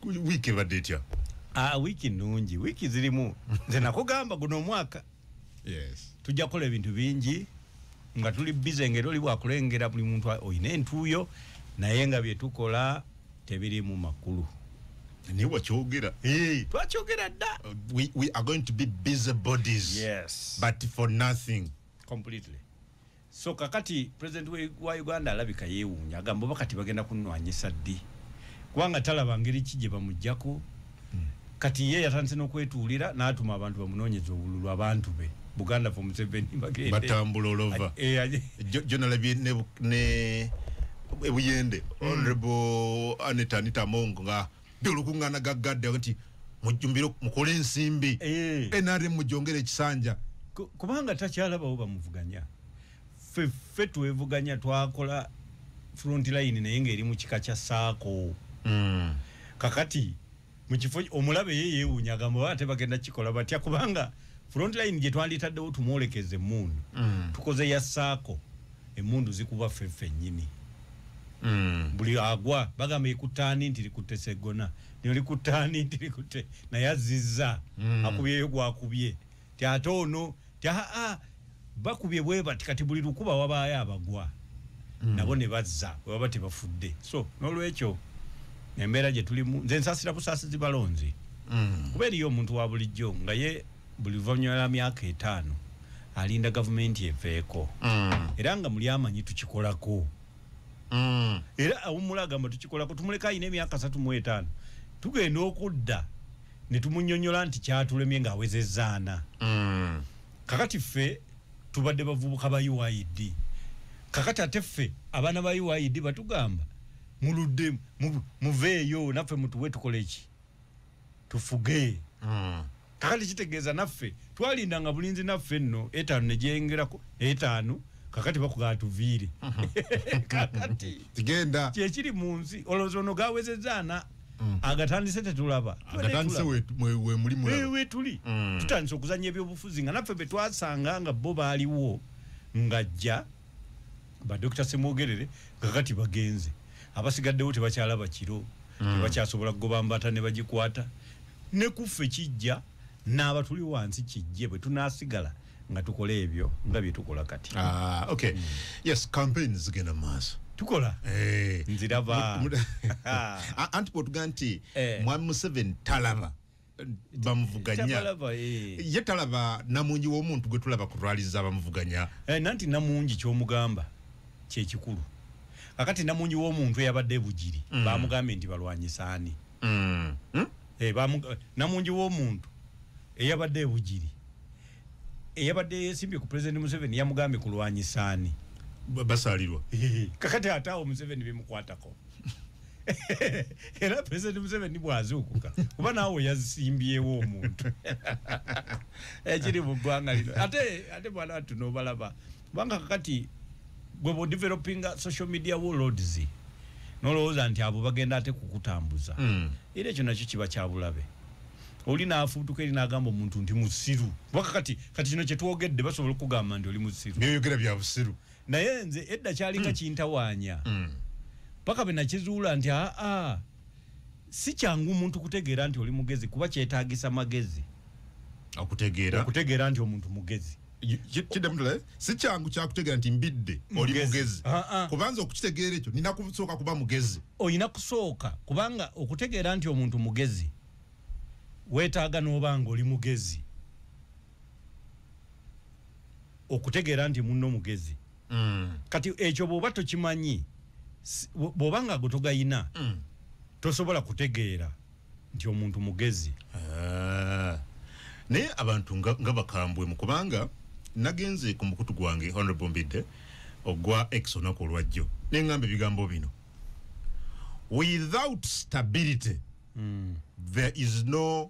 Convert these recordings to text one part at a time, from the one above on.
wiiki ebadde etya ah, wiiki nnungi wiiki zirimu nze nakugamba guno omwaka tujja kukola ebintu bingi nga tuli bize ngaera oli wakulengera buli muntu olina entuuyo naye nga byetukola tebirimu makulu naye wakyogera twakyogera dda uh, so kakati president wa uganda alabika yewuunya agamba oba kati bagenda kunwanyisa ddi kubanga talaba ngeri ki gye bamujjako hmm. kati ye yatandise n'okwetuulira n'atuma abantu bamunoonyeza obululu abantu be buganda fo museveni bagendebatambula olova gyonalabye eh, ne ebuyende hmm. honorable anita anita mongo nga byolukuŋŋaana ga gadde nti mujjumbire mukole ensimbi eh. nrm mujongere ekisanja kubanga takyalabawo bamuvuganya feffe twevuganya twakola front line naye ngaeri mu kika kya saako hmm. kakati mukifo omulabe ye yewunya agamba oba ate bagenda kikola batya kubanga front line gyetwanditaddewo tumwolekeze muunu hmm. tukoze ya saako emundu zikuba fe fenyini mm. buli agwa bagamba ikutani nti likute segona nyo likutani nti likute na ya ziza mm. akubye yogu akubye ti atono ti haa ah, bakubye weba tikati buli lukuba waba ya bagwa mm. nabo ne bazza waba tebafudde so nolwekyo embera je tulimu nze nsasira kusasi zibalonzi mm. kuberi yo muntu wabulijjo nga ye buli luvannyuma lwa myaka etaano alinda gavumenti eveeko mm. era nga muli amanyi tukikolako mm. era awummula agamba tukikolako tumuleka alina emyaka satu mu etaano tugenda okudda ne tumunyonyola nti kyatulemye ng'awezezaana mm. kakati ffe tubadde bavubuka ba uid kakati ate ffe abaana ba uid batugamba muludde muveeyo naffe mutuwe tukoleki tufuge mm. kakati kitegeeza naffe twalinda nga bulinzi naffe nno etaano negyeyongerako etaano kakati bakugaa tuviire kakati genda kyekiri mu nsi olowooza ono gawezeza ana mm. agatandise tetulaba wetuli mm. tutandise okuzanya ebyobufuzi nga naffe betwasanga nga bo baaliwo ngajja ba Dr. Semwogerere kakati bagenze abasigaddewo tebakyalaba kiro mm. tebakyasobola kugoba mbata ne bagikwata ne kuffe kijja n'aba tuli wansi kijje bwe tunaasigala nga tukola ebyo nga bye tukola kati ah, okay. mm. yes campaign zigenda maaso tukola hey. Eh. nziraba anti bwotuga nti hey. Eh. mwami museveni talaba bamuvuganya eh. ye talaba namungi womuntu gwe tulaba ku rali za bamuvuganya eh, nanti namungi kyomugamba kyekikulu akati namungi womuntu eyabadde ebugiri mm. bamugambye nti balwanyisaani mm. hmm? eh, namungi womuntu eyabadde ebugiri eyabadde yesimbye ku president museveni yamugambye kulwanyisa ani basalirwa kakati ate awo museveni bimukwatako era president museveni bwazuukuka kuba naawe yasimbyewo omuntu ekiri mu ggwanga lino ate ate bwana tunobalaba kubanga kakati gwe bodevelopinga social media warlords nolowooza nti abo bagenda ate kukutambuza mm. era ekyo nakyo kiba kyabulabe oli nafuutuka eri nagamba omuntu nti musiru kubanga kati kati kino kyetwogedde basobola okugamba nti oli musiru nyoyogera bya busiru naye nze edda kyalinga mm. kintawaanya mm. paka mm. benakizuula nti aa si kyangu omuntu kutegeera nti oli mugezi kuba kyetagisa magezi okutegeera okutegeera nti omuntu mugezi kidemutule si kyangu kyakutegeera nti mbidde oli mugezi ah, ah. kubanza okukitegeera ekyo nina kusooka kuba mugezi olina kusooka kubanga okutegeera nti omuntu mugezi weetaaga n'oba nga oli mugezi okutegeera nti munno mugezi mm. kati ekyo bw'oba tokimanyi bw'oba nga gwe togayina mm. tosobola kutegeera nti omuntu mugezi ah. naye abantu nga bakambwe mu kubanga nagenze ku mukutu gwange honorable mbidde ogwa ex olunaku olwajjo nengamba ebigambo bino without stability mm. there is no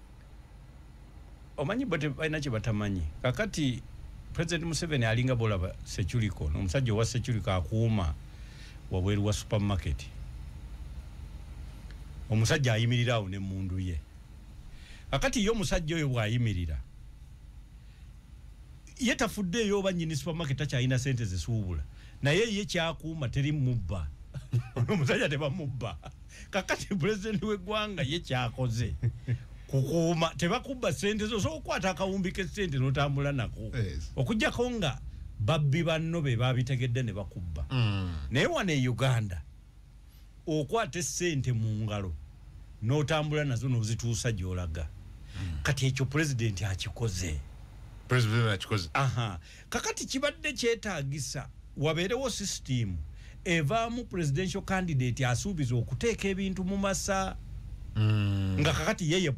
omanyi bo balina kye batamanyi kakati president museveni alinga bolaba securiko nomusajja owa securiko akuuma wabweru wa supermarket omusajja ayimirira awo nemundu ye kakati ye omusajja oyo bwayimirira ye tafuddeeyo oba nyini supermarket takyalina sente zisuubula naye ye kyakuuma teri mubba omusajja tebamubba kakati pulezidenti w'eggwanga ye kyakoze kukuuma tebakubba sente zo osobola okukwata akawumbi k'essente n'otambula nako okujjako nga babbi banno be babitegedde ne bakubba mm. naye wano e uganda okwata essente mu ngalo n'otambula nazo n'ozituusa gy'olaga mm. kati ekyo pulezidenti akikoze pulezidenti akikoze Kakati kibadde kyetaagisa wabeerewo sisitiimu evaamu presidential candidate asuubiza okuteeka ebintu mu masa mm. nga kakati ye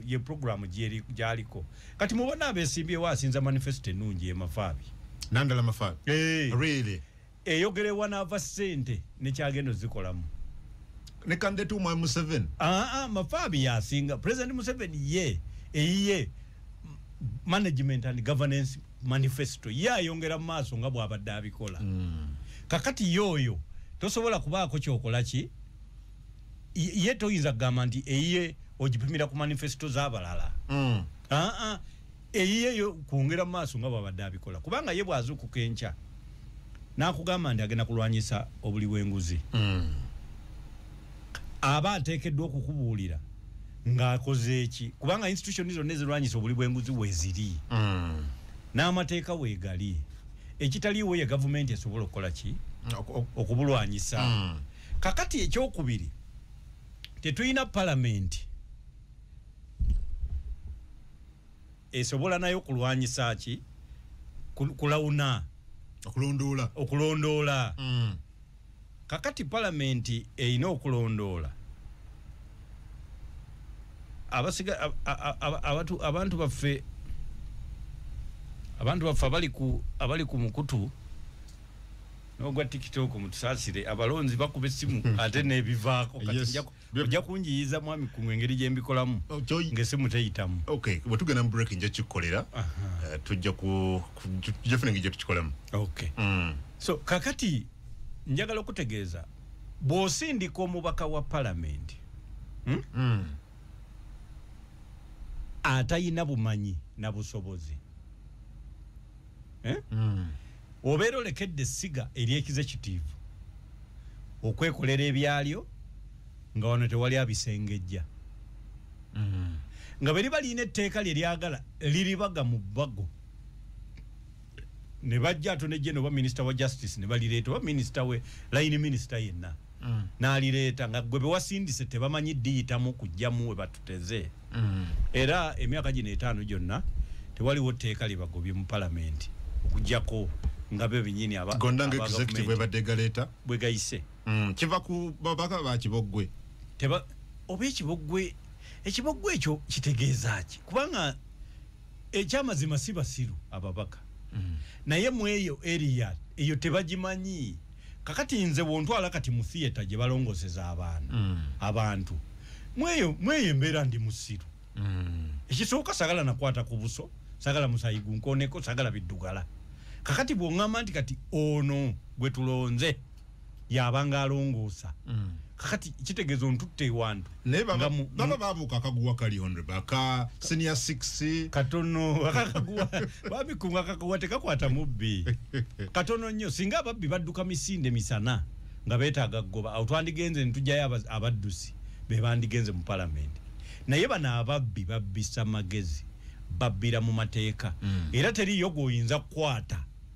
ye programu gyaliko kati mubona abesimbyewo asinza manifesto ennungi emafaabi nandala mafaabi hey. Eh. really? eyogere wanaava sente nekyagenda ozikolamu ne candidate umwe Museven aa ah, ah, mafabi yasinga president Museven ye eyiye management and governance manifesto ye ayongera maaso nga bwabadde abikola mm. kakati yoyo tosobola kubaako kyokola ki ye toyinza kugamba nti eyiye ogipimira ku manifesto zabalala mm. aa ah, eyiye yo kwongera maaso nga bwabadde abikola kubanga ye bwazuukuka enkya nakugamba nti agenda kulwanyisa obuli bwenguzi mm. aba ateekeddwa okukubuulira ng'akoze eki kubanga institution zonna ezirwanyisa obuli bwenguzi weziri mm. n'amateeka weegali ekitaliiwo ye gavumenti esobola okukola ki okubulwanyisa mm. kakati ekyokubiri tetulina palamenti esobola nayo kulwanyisa ki kulawuna okulondoola okulondoola mm. kakati palamenti erina okulondoola abasiga abantu abantu baffe abantu baffe abali ku abali ku mukutu n'ogwa tiktok mutusaasire abalonzi bakuba essimu ate n'ebivaako kati yes. ojja kunjiyiza mwami kumwe engeri gyembikolamu oh, ngesi muteyitamu okay bwetugenda mu break nja kikolera eh, tujja ku tujja funa ngeri gyetukikolamu okay mm. so kakati njagala okutegeeza bw'osindika omubaka wa palamenti hmm? mm. atalina bumanyi na busobozi eh? mm. Obeera olekedde essiga ery'ekize kitiivu okwekolera ebyalyo nga wano tewali abisengejja mm. nga beriba lirina etteeka lye lyagala liribaga mu bago ne bajja ate nejje noba minisita wa justice ne balireeta oba minisita we layini minisita yenna mm. nalireeta nga gwe bewasindise tebamanyi diyitamu kujjamu we batuteze mm. era emyaka gino etaano gyonna tewaliwo tteeka lyebagobye mu palamenti okujjako nga be benyini abagondangexectivebadegaleeta bwegayise mm. kiva ku babaka bakiboggwe teba oba ekiboggwe ekiboggwe ekyo kitegeeza ki kubanga ekyamazima si basiru ababaka mm. naye mweyo eriya eyo tebagimanyi kakati nze wontwala kati mu theatre gye balongoseza abaana mm. abantu mweyo mweyo embeera ndi musiru mm. ekisooka sagala nakwata ku buso sagala musayi gunkoneko sagala biddugala kakati bwongamba nti kati ono gwe tulonze yabanga alongoosa mm. kakati kitegeeza ontutte ewantu naye baba baba babu kakaguwa kali onre baka senior 6 katono kakaguwa babi kunga kakaguwa tekakwata mubbi katono nyo singa babi baduka misinde misana nga beta gagoba au twandi genze ntujaya abadusi be bandi genze mu parliament naye bana ababi babi samagezi babira mu mateka mm. era teri yogo inza kwata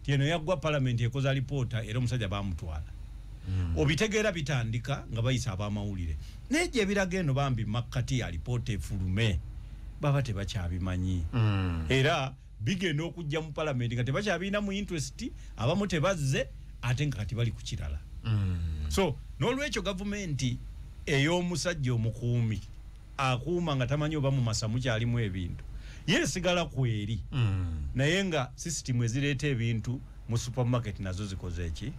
nti eno yaggwa palamenti ekoze alipoota era omusajja baamutwala hmm. obitegeera bitandika nga bayisa ab'amawulire naye gye biraga eno bambi makkati ya alipoota efulume baba tebakyabimanyi hmm. era bigenda okujja mu palamenti nga tebakyabirina mu interest abamu tebazze ate nga kati bali ku kirala hmm. so n'olwekyo gavumenti ey'omusajja omukuumi akuuma nga tamanyi oba mu masa mukyalimu ebintu ye sigala kweri mm. naye nga sisitimu ezireeta ebintu mu supermarket nazo zikoze eki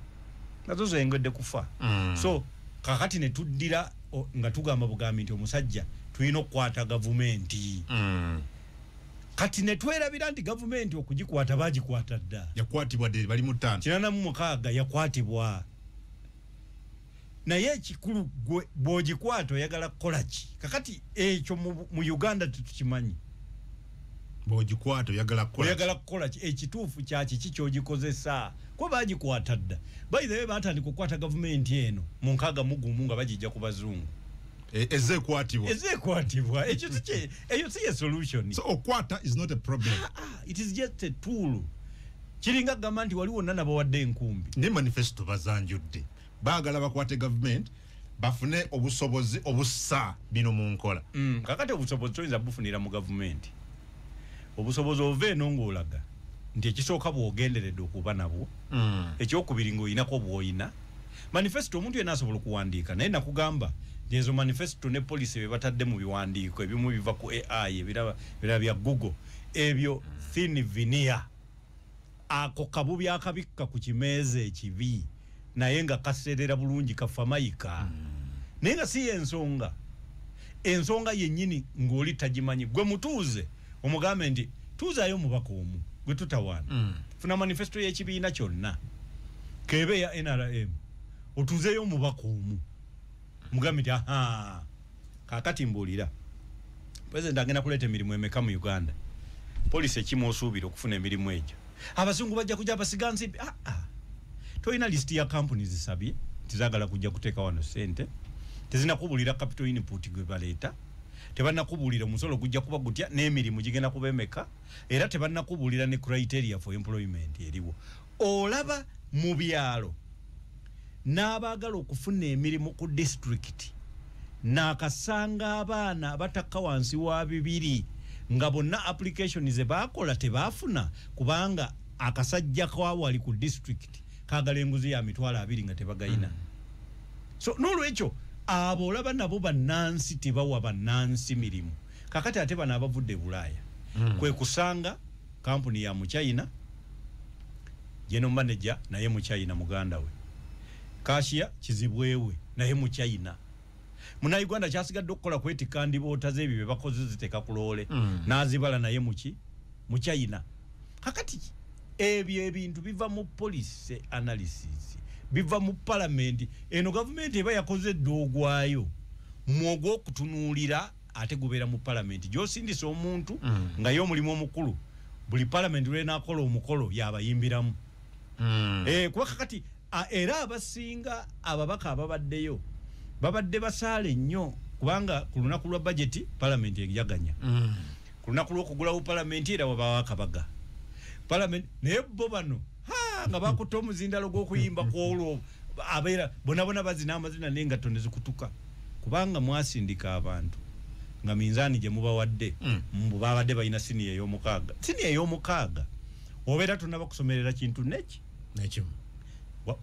nazo zengedde kufa mm. so kakati ne tuddira nga tugamba bugambi nti omusajja tulina okukwata gavumenti mm. kati ne twerabira nti gavumenti okugikwata bagikwata dda yakwatibwa de bali mu ttaano kinana mu mukaaga yakwatibwa naye ekikulu gwe bwogikwata oyagala kukola ki kakati ekyo mu uganda tetukimanyi bwogikwata oyagala kukola oyagala kukola ki ekituufu kyaki ki kyogikozesa kuba bagikwata dda bayithawe batandika okukwata gavumenti eno mu nkaaga mugumu nga bagijja ku bazungu e, ezekwatibwa ezekwatibwa ekyo eyo si ye solution so okwata is not a problem ah, ah, it is just a tool kiringa agamba nti wali wonna nabawadde enkumbi ne manifesto bazanjudde baagala bakwate gavumenti bafune obusobozi obussa bino mu nkola mm, kakati obusobozi toyinza bufunira mu gavumenti obusobozi ova eno ngaolaga nti ekisooka bwogenderedde okuba nabwo mm. ekyokubiri ngaoyinako bwoyina manifesto omuntu yena asobola okuwandiika naye nakugamba ezo manifesto ne policy bebatadde mu biwandiiko ebimu biva ku ai ebiraba bya google ebyo thin vinia ako kabubi akabikka ku kimeeza ekibi naye nga kaseerera bulungi kafa mayika mm. naye nga si yensonga ensonga yennyini ng'oli tagimanyi gwe mutuuze omugambe nti tuuzaayo omubaka omu gwe tutawaana mm. funa manifesto y'ekibiina kyonna keebe ya nrm otuuzeeyo omubaka omu mugambe nti ahaa kakati mbuulira president agenda kuleeta emirimu emeka mu uganda polisi ekimu osuubira okufuna emirimu egyo abazungu bajja kujja basiga nsimbi ah, ah. tolina lisiti ya kampuni zisabye nti zagala kujja kuteeka wano sente tezinakubulira capital input gwe baleeta tebanakubulira omusolo gujja kuba gutya n'emirimu gigenda kuba emeka era tebanakubulira ne criteria for employment eriwo olaba mu byalo n'abaagala okufuna emirimu ku disitulikiti naakasanga abaana abatakka wansi wa bibiri nga bonna application ze baakola tebaafuna kubanga akasajja kawali ku district kagala enguzi ya mitwalo abiri nga tebagayina mm. so nolwekyo abo olaba nabo bannansi tebawa bannansi mirimu kakati ate bano abavudde e bulaaya mm. kwe kusanga kampuni ya muchina general manager naye mu china muganda we kashiya kizibwewe naye mu china muna uganda kyasigadde okukola kwetika ndiboota zebyo byebakoze ziteeka ku loole mm. nazibala naye muki mu china kakati ebyo ebintu biva mu policy analysis biva mu palamenti eno gavumenti eba yakoze dda ogwayo mwogwokutunuulira ate gubeera mu palamenti gyosindisa omuntu mm. nga ye omulimu omukulu buli palamenti lwenakola omukolo yabayimbiramu mm. eh, kuba kakati era abasinga ababaka ababaddeyo babadde basaale nnyo kubanga ku lunaku lwa bajeti palamenti eyaganya mm. ku lunaku lwokugulawo palamenti era wabawo akabaga palamenti naye bo bano nga bakutte omuzindalo gw'okuyimba kwolwo abeera bonabona bazina amazina naye nga tone zikutuka kubanga mwasindika abantu nga minzaani gye mubawadde mm. mbu babadde balina siniya ey'omukaaga siniya ey'omukaaga obeera tonaba kusomerera kintu neki nekimu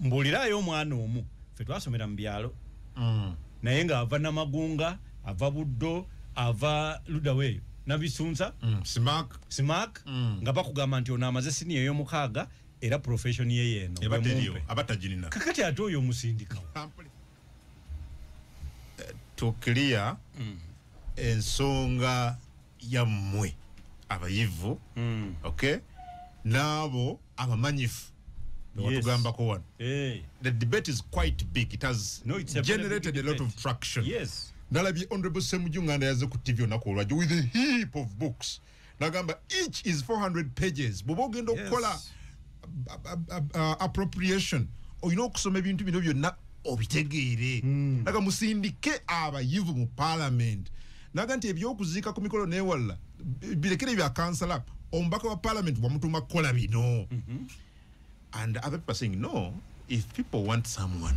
mbuuliraayo omwana omu fe twasomera mu byalo mm. naye nga ava namagunga ava buddo ava ludaweeyo nabisunza mm, simak, simak mm. nga bakugamba nti ono amaze siniya eyomukaaga era profession ye yeno abatagirina kakati ate oyo omusindikawo eh, to clear mm. ensonga yammwe abayivu mm. okay naabo abamanyifu watugambako wano hey. Eh. the debate is quite big it has no, it's generated a, a lot of traction yes. nalabye honorable semuju nganda yaze ku tv onaku olwajjo with a heap of books nagamba each is 400 pages bwoba ogenda okukola yes. appropriation olina okusoma ebintu bino byonna obitegeere hmm. naga musindike abayivu mu parliament naga nti ebyokuziika ku mikolo newalala birekere ebya kansala omubaka wa parliament wamutuma kukola bino mhm. and other people saying no if people want someone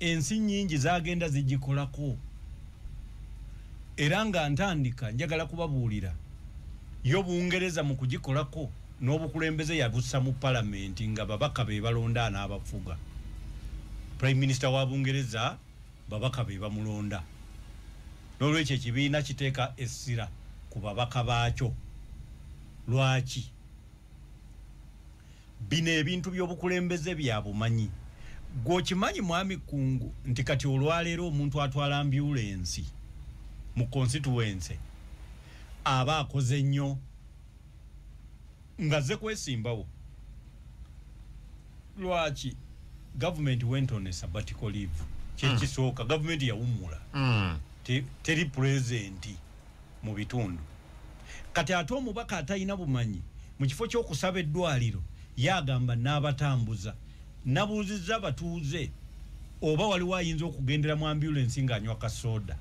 ensi nyingi zagenda zigikolako era nga ntandika njagala kubabuulira yo bungereza mu kugikolako n'obukulembeze yabusa mu palamenti nga babaka be balonda anaabafuga prime minister wa bungereza babaka be bamulonda n'olwekyo ekibiina kiteeka essira ku babaka baakyo lwaki bino ebintu byobukulembeze byabumanyi gwe okimanyi mwami kungu nti kati olwaleero omuntu atwala ambulensi mu constituense aba akoze nnyo ngaze kwesimbawo lwaki gavumenti went on a sabbatical leave kyekisooka mm. gavumenti yawummula mm. teri pulezenti te mu bitundu kati ate omubaka atalina bumanyi mu kifo ky'okusaba eddwaliro yagamba n'abatambuza nabuuzizza abatuuze oba waliwo ayinza okugendera mu ambulensi ng'anywa kasooda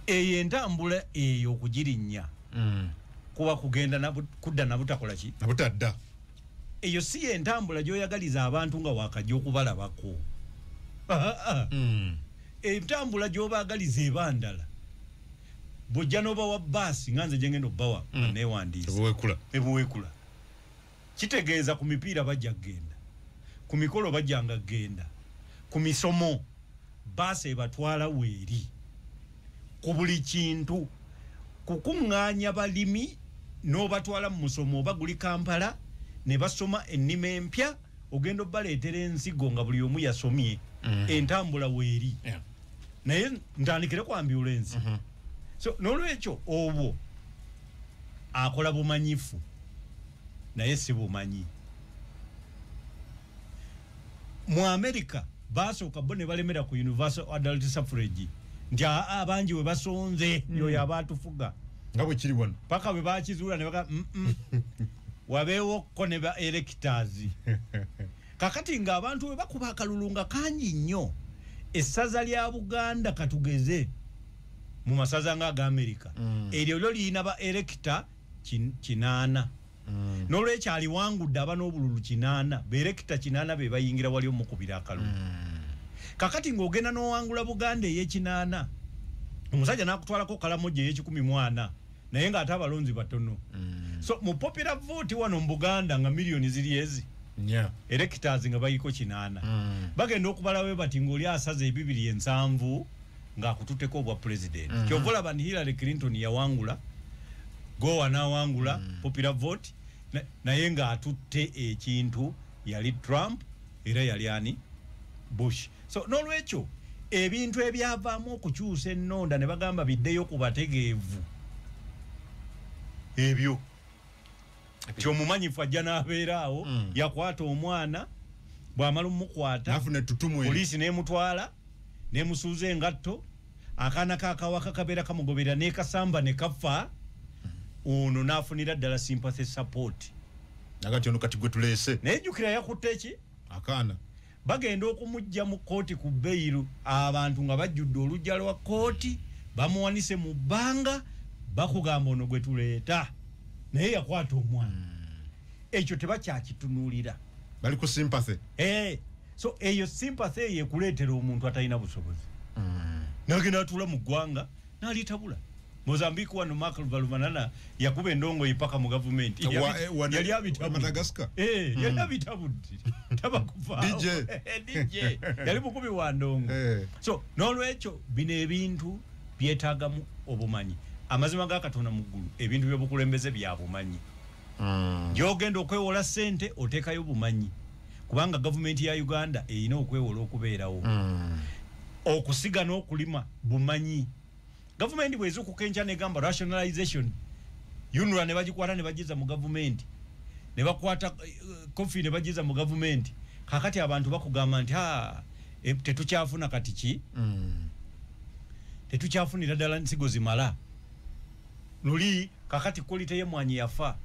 eyo entambula eyo okugirinnya mm. kuba kugenda kudda nabutakola ki nabutadda eyo si yentambula gyoyagaliza abantu nga wakajja okubalabako hmm. entambula gyobagaliza ebandala bujja nobawa baasi nga nze gyengenda okubawa hmm. newandiisaebuwekula kitegeeza ku mipiira bajja kugenda ku mikolo bajjanga kugenda ku misomo baasi ebatwala weeri ku buli kintu kukuŋŋaanya balimi n'obatwala mu musomo oba guli kampala ne basoma ennima empya ogenda obaleetera ensigo nga buli omu yasomye mm. entambula weeri naye ntandikire ku ambulensi mm-hmm. so n'olwekyo obwo akola bumanyifu naye si bumanyi mu america basooka bo ne balemera ku universal adult suffrage nti abangi we basonze mm. yoyo abaatufuga nga bwe kiri wano paka bwe bakizuula ne baga mm, mm. wabeewo ko ne ba elekitazi kakati nga abantu bwe bakuba akalulu nga kangi nnyo essaza lya buganda katugeze mu masaza nga aga amerika mm. eryo lyo liyina ba elekita kinaana kin mm. nolwekyo aliwangudde aba n'obululu kinaana berekita kinaana be bayingira wali omukubira akalulu mm. kakati ng'ogenda n'owangula buganda ey'ekinaana omusajja n'akutwalako kalamoja ey'ekikumi mwana naye ng'ate abalonzi batono mm. so mu popular vote wano mu buganda nga miliyoni ziri ezi yeah. erekitazi nga bayiko kinaana mm. bagenda okubalawe bati ng'oli asaza ebibiri ensanvu ng'akututeko obwa pulezidenti mm -hmm. kyova olaba ni hillary clinton yawangula gowa n'awangula mm -hmm. popular vote na, naye ng'atutte ekintu yali trump era yali ani bush so n'olwekyo ebintu ebyavaamu okukyusa ennonda ne bagamba biddeyo ku bategeevu ebyo nti omumanyifu ajja n'abeera awo mm. yakwata omwana bw'amala omukwata poliisi n'emutwala n'emusuuza engatto akaana kakawaka kabeera kamugoberera n'ekasamba ne kafa ono n'afunira ddala sympathy support nagati ono kati gwe tuleese naye jjukira yakutte ki akaana Bagenda okumujja mu kkooti ku bbeyiru abantu nga bajjudde olujja lwa kkooti bamuwanise mu bbanga bakugamba ono gwe tuleeta naye yakwata omwana hmm. ekyo tebakyakitunuulira bali ku simpathy eh, so eyo simpathy eyo ekuleetera omuntu atalina busobozi hmm. nagenda atula mu ggwanga nalitabula Mozambique wano Mark Valumanana yakuba endongo ipaka mu government eh, yali abitabu Madagascar eh hmm. yali abitabu taba kufa DJ eh, DJ yali mukubi wa ndongo eh. so nolwecho bine ebintu byetaga mu obumanyi amazima ga katona mugulu ebintu byo bukulembeze bya bumanyi mm. yogendo kwewola sente oteka yo bumanyi kubanga government ya Uganda eino kwewola okubeerawo mm. okusiga no kulima bumanyi gavumenti bwezukuka enkya negamba rationalization unra nebagikwata nebagiza mu gavumenti nebakwata uh, eh, cofi nebagiza mu gavumenti kakati abantu bakugamba nti ha e, tetukyafuna kati ki mm. tetukyafunira ddala nsigo zimala luli kakati kolite yemwanyi yafa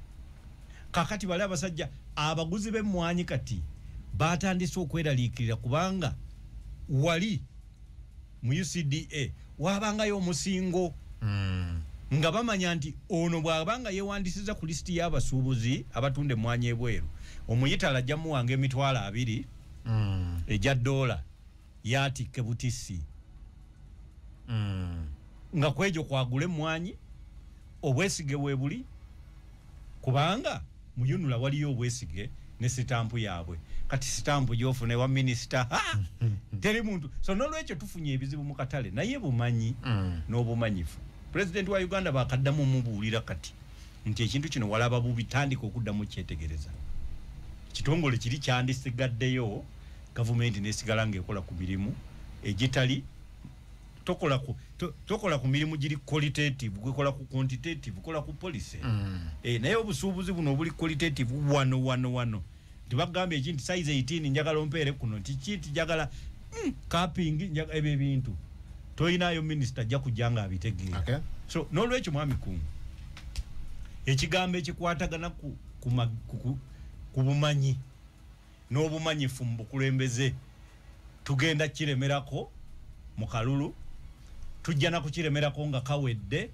kakati bali abasajja abaguzi bemwanyi kati batandise okweraliikirira kubanga wali mu ucda waabangayo omusingo mm. nga bamanya nti ono bw'aba nga yeewandisiza ku lisiti y'abasuubuzi abatunda emmwanyi ebweru omuyitala ajja muwanga emitwalo abiri mm. egya doola yaatikke butisi mm. nga kwegyo kwagula emmwanyi obwesige weebuli kubanga muyunula waliyo obwesige ne sitampu yabwe kati sitampu gyofuna ewa minisita teri muntu so nolwekyo tufunye ebizibu mu katale naye bumanyi mm. n'obumanyifu pulezidenti wa uganda bakaddamu mubuulira kati nti ekintu kino walaba bubi tandika okuddamu kyetegereza kitongole kiri kyandisigaddeyo gavumenti nesigala ngaekola ku mirimu egitali tokola ku to, tokola ku mirimu giri qualitative gwekola ku quantitative kola ku policy mm. e, naye obusuubuzi buno obuli qualitative wano wano wano tibagamba eki nti size 18 njagala ompeere kuno nti ki nti njagala mm, kapingi njagala ebyo ebintu toyinayo minisita ajja kujja nga abitegeera okay. so n'olwekyo mwami kungu ekigambo ekikwatagana ku, ku, ku, ku, ku bumanyi n'obumanyifu mu bukulembeze tugenda kiremerako mu kalulu tujja na kukiremerako nga kawedde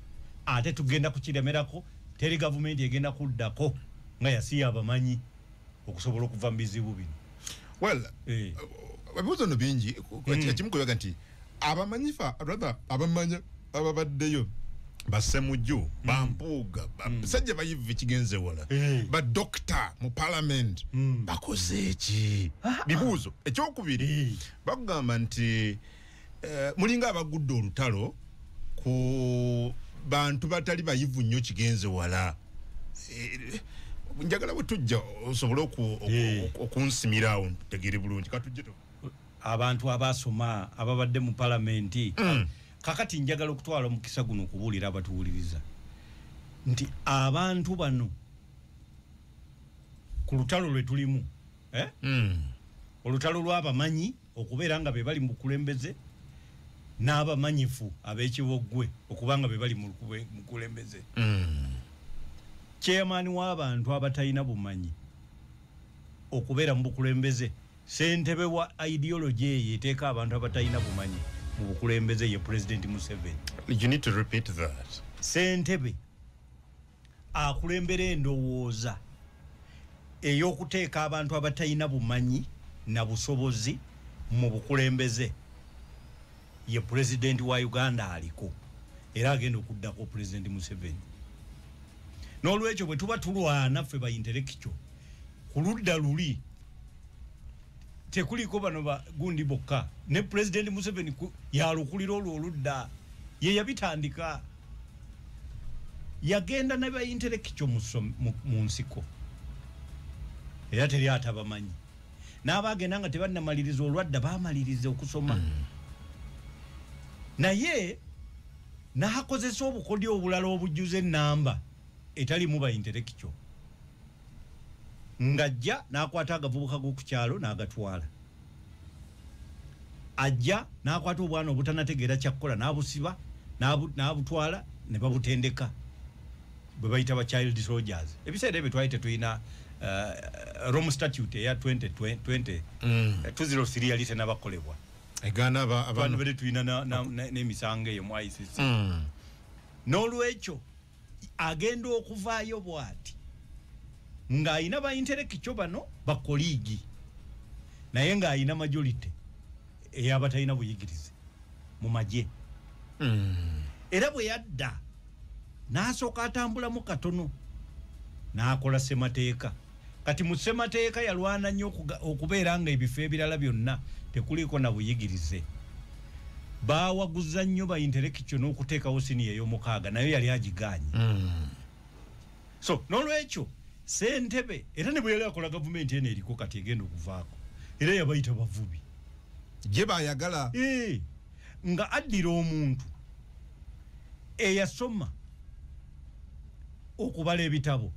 ate tugenda kukiremerako teri gavumenti egenda kuddako nga yasiya abamanyi okusobola okuva mu bizibu bino well eh. ebibuzo no bingi ekimu hmm. kuyaga nti abamanyi fa rather abamanya ababaddeyo basemuju bampuuga basajja bayivu ekigenze wala eh. badokita mu palamenti hmm. bakoze eki ah, ah. bibuuzo ekyokubiri eh. bakugamba nti eh, mulinga abagudde olutalo ku bantu batali bayivu nnyo kigenze wala njagala bwe tujja osobole okunsimira awo tegere bulungi katujje abantu abaasoma ababadde mu palamenti mm. kakati njagala okutwala omukisa guno okubuulira abatuwuliriza nti abantu bano ku lutalo lwe tulimu eh? mm. olutalo lw'abamanyi okubeera nga be bali mu bukulembeze n'abamanyifu ab'ekiboggwe okuba nga be bali mu bukulembeze mm. chairman w'abantu abatalina bumanyi okubeera mu bukulembeze Ssentebe wa ideology eyo eteeka abantu abatalina bumanyi mu bukulembeze ye Pulezidenti Museveni. You need to repeat that. Ssentebe akulembera endowooza ey'okuteeka abantu abatalina bumanyi na busobozi mu bukulembeze ye Pulezidenti wa Uganda aliko era agenda okuddako Pulezidenti Museveni. n'olwekyo bwe tuba tulwana ffe ba intelectual ku ludda luli tekuliko bano ba gundi bokka ne pulezidenti museveni yalukulira olwo oludda ye yabitandika yagenda ne baintelekikyo mu nsiko era teri atabamanyi n'aba agenda nga tebannamaliriza olwadda bamaliriza okusoma mm. naye Nahakozesa obukodyo obulala obujjuza ennamba etalimu bainterekikyo ng'ajja n'akwata agavubuka g'oku kyalo n'agatwala ajja n'akwata obwana obutanategeera kyakukola n'abusiba n'abutwala ne babutendeka bwe bayita ba child soldiers ebiseera ebyo twali tetulina uh, rome statute eya 2003 mm. uh, yali tenabakolebwa egana abantu bere tulina n'emisango eyo mu icc hmm. n'olwekyo agenda okuvaayo bwati ng'alina bainterekikyo bano bakoliigi naye ng'alina majority eyabatalina buyigirize mu magye hmm. era bwe yadda n'asooka atambulamu katono n'akola ssemateeka kati mu ssemateeka yalwana nnyo okubeera nga ebifo ebirala byonna tekuliiko na buyigirize bawaguza nnyo bainterekityo n'okuteekawo siniya ey'omukaaga nayo yali agiganye hmm. so n'olwekyo sentebe era ne bwe yali akola gavumenti eno eriko kati egenda okuvaako era yabayita bavubi gye bayagala eh. nga addira omuntu eyasoma okubala ebitabo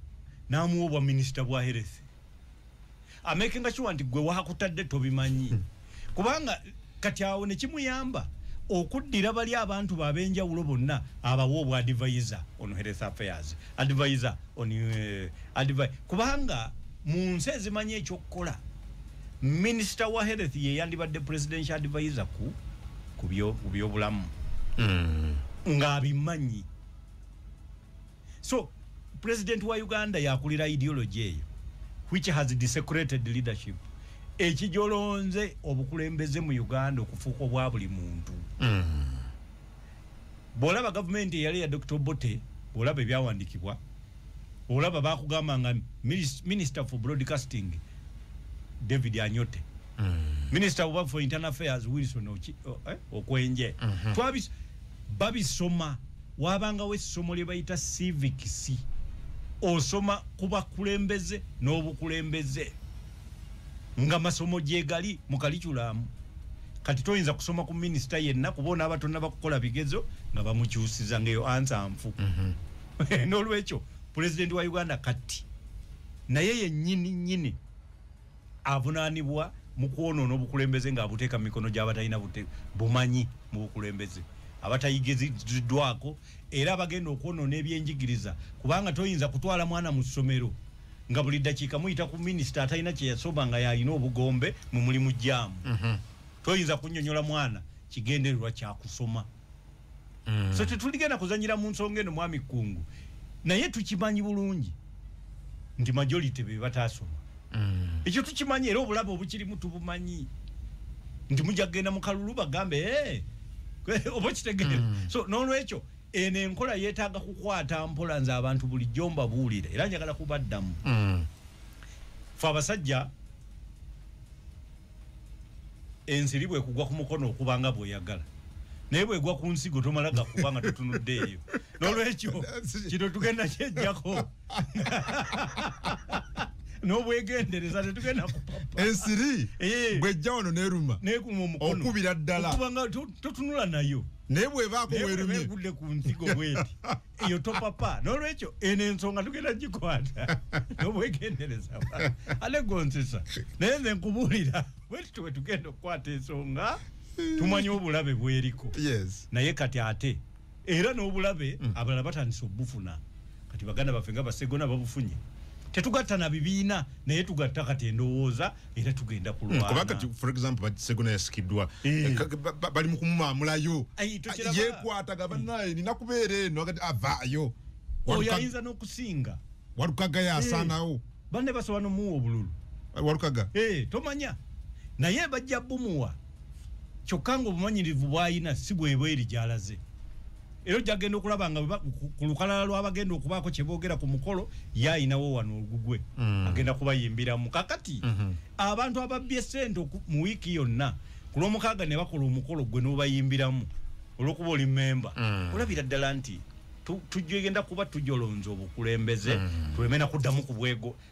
namuwa obwa minisita bwa health amakinga kiwa nti gwe wakutadde tobimanyi hmm. kubanga kati awo nekimuyamba okuddira bali abantu babenjawulo bonna abawa obwa advisor on health affairs advisor on uh, eh, advi kubanga mu nsi ezimanyi ekyokukola minister wa health ye yandibadde presidential advisor ku ku byobulamu mm. ng'abimanyi so president wa uganda yakulira ideology eyo which has desecrated leadership ekijolonze obukulembeze mu uganda okufuuka obwa buli muntu mm. bwolaba gavumenti eyali eya dr obote olaba ebyawandikibwa olaba bakugamba nga minister for broadcasting david anyote mm. minister oba for internal affairs wilson eh, okwenje mm -hmm. twabis babisoma wabangawo essomo lye bayita civics osoma ku bakulembeze n'obukulembeze nga masomo gyegali mu kaliculamu kati toyinza kusoma ku minisita yenna kuba onaaba tonaba kukola bigezo nga bamukyusiza ngaeyo ansa nfu mhm. n'olwekyo pulezidenti wa uganda kati naye yenyini nyini avunaanibwa mu kwonoona obukulembeze ng'abuteeka mu mikono gy'abatalina bumanyi mu bukulembeze abatayigiriddwako era abagenda okwonona ebyenjigiriza kubanga toyinza kutwala mwana mu ssomero nga buli ddakiika muyita ku minisita atalina kye yasoma nga yalina obugombe mu mulimu jaamu mhm. toyinza kunyonyola mwana kigendererwa kyakusoma mm. so tetuligenda kuzanyira mu nsonga eno mwami kkungu naye tukimanyi bulungi nti majority be bataasoma mm. ekyo tukimanyi era obulabe obukirimu tubumanyi nti mujja kugenda mu kalulu bagambe eh, eh, oba kitegeere mm. so n'olwekyo eno enkola yeetaaga kukwata mpola nze abantu bulijjo mbabuulire era njagala kubaddamu mm. fe abasajja ensiri bwekugwa ku mukono okuba nga bweyagala naye bwegwa ku nsigo tomala gakuba nga tutunudde eyo nolwekyo kino tugenda kyejjako nobwegendereza tetugenda kupapa ensiri eh. bwejja wano neruma nekuma omukono okubira ddala okuba nga totunula nayo naye bwebaako werumye egudde ku nsigo bweti eyo topapa nolwekyo eno ensonga tugenda gikwata nobwegendereza ale gonsesa naye nze nkubuulira wetito wetugenda okukwata ensonga tumanye obulabe bweriko naye kati ate era n'obulabe mm. abalala batandise obufuna kati baganda baffe nga basegona babufunye tetugatta na bibiina naye tugatta kati endowooza era tugenda kulwana kuba kati for example but segona yasikidwa eh. bali mukumamulayo yekwata gabanaye nina kubera eno agati avayo oyo ayinza nokusinga walukaga yasanawo eh. bane basobola nomuwa obululu eh, walukaga tomanya naye bajja bumuwa kyokka nga obumanyirivu bwayina si bwebweri gyalaze era ojja kugenda okulaba nga ku lukalala lw'abagenda okubaako kye boogera ku mukolo ye ayinawo wano olugugwe mm. agenda kubayimbiramu kakati mm-hmm. abantu ababbye sente mu wiiki yonna ku lw'omukaaga ne bakola omukolo gwe n'obayimbiramu olw'okuba oli memba mm. olabira ddala nti tujja egenda kuba tujolonza obukulembeze mm. tulemena kuddamu ku bwego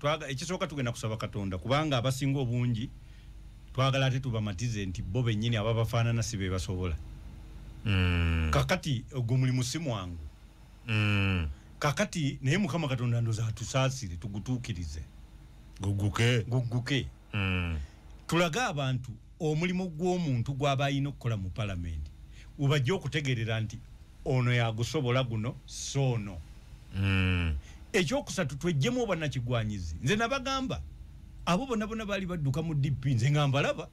twaga ekisooka tugenda kusaba katonda kubanga abasinga obungi twagala ate tubamatize nti bo bennyini aba bafaanana si be basobola mm. kakati ogwo mulimu si mwangu mm. kakati naye mukama katonda ndoza atusaasire tugutuukirize guguke guguke mm. tulage abantu omulimu gw'omuntu gwaba alina okukola mu palamenti webajja okutegerera nti ono yagusobola guno soono mm. ekyokusatu twejjemu obwanakigwanyizi nze nabagamba abo bona bona baali badduka mu dp nze nga mbalaba